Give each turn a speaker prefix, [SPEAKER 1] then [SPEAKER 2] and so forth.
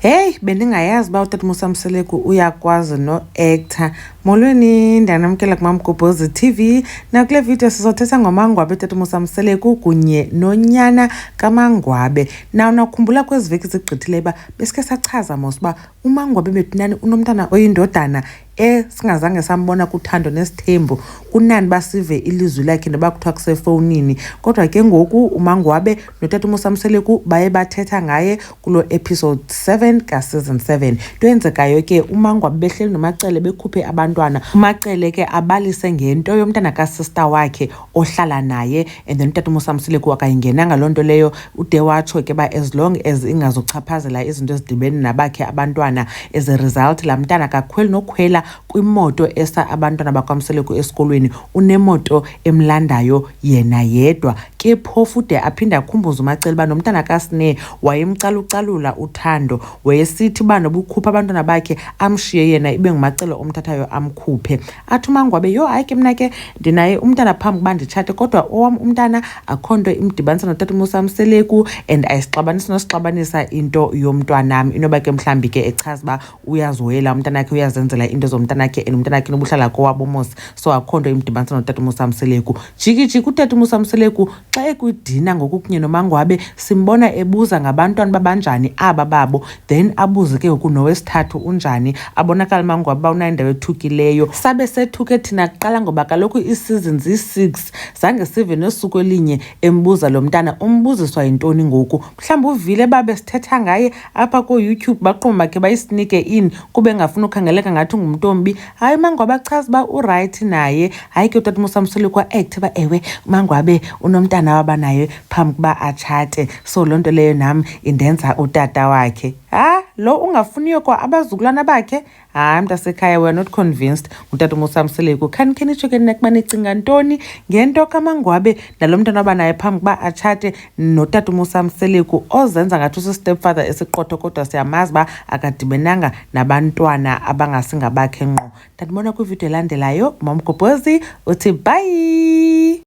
[SPEAKER 1] Heyi, bendingayazi uba utata Musamseleku uyakwazi no-actor. Molweni, ndiyanamkela kuMamgobhozi TV. Nakule video sizothetha ngomangwabe tata Musamseleku kunye nonyana kamangwabe. Naw nakhumbula kwezi veki zigqithileyo uba besikhe sachaza mos uba umangwabe betunani unomntana oyindodana e singazange sambona kuthando nesithembu kunani basive ilizwi lakhe noba kuthiwa kusefowunini kodwa ke ngoku umangwabe notata umusamseleku baye bathetha ngaye kulo episode 7 kaseason 7 nto yenzekayo ke umangwabe behleli nomacele bekhuphe abantwana umacele ke abalise ngento yomntana kasista wakhe ohlala naye and then utata umosamsile kuwa kayingenanga loo nto leyo ude watsho ke uba as long as ingazuchaphazela izinto ezidibene nabakhe abantwana as a result laa mntana akakhweli nokhwela kwimoto esa abantwana bakwamseleku esikolweni unemoto emlandayo yena yedwa ke phofu ude aphinde akhumbuze umacela uba nomntana kasine wayemcalucalula uthando wayesithi uba nobukhupha abantwana bakhe amshiye yena ibe ngumacelo omthathayo amkhuphe athi umangwabe yho hayi ke mna ke ndinaye umntana phambi kuba nditshate kodwa owam umntana akho nto imdibanisa notata umusa mseleku and ayisixabanisi nosixabanisa into yomntwanam inoba ke mhlawumbi ke echaza uba uyazihoyela umntana wakhe uyazenzela into zomntana wakhe and umntana wakhe nobuhlala kowabo mos so akho nto imdibanisa notata umusa mseleku jikijiki utata umusa mseleku Xa ekwidina ngoku kunye nomangwabe simbona ebuza ngabantwana babanjani aba babo then abuze ke ngoku nowesithathu unjani abonakala umangwabe uba unayo indawo ethukileyo sabe sethuke thina kuqala ngoba kaloku iisizini ziyi-six zange sive nosuku elinye embuza lo mntana umbuziswa yintoni ngoku mhlawumbi uvile babe sithetha ngaye apha kooyoutube baqumba ke bayisinike in kube engafuni ukhangeleka ngathi ungumntombi hayi mangwabe achaza uba urayithi naye hayi ke utata umusamsule kwa-act uba ewe mangwabe unomntana waba naye phambi kuba atshate so loo nto leyo nam indenza utata wakhe ha lo ungafuniyo kwa abazukulwana bakhe hayi mntasekhaya weare not convinced ngutata umusamseleku khani khenitsho ke nina kuba nicinga ntoni ngento kamangwabe nalo mntana waba naye phambi kuba atshate notatumusam seleku ozenza ngathi usistepfather esiqotho kodwa siyamazi uba akadibenanga nabantwana abangasingabakhe ngqo ndandibona kwividiyo elandelayo mamgobhozi uthi bhayi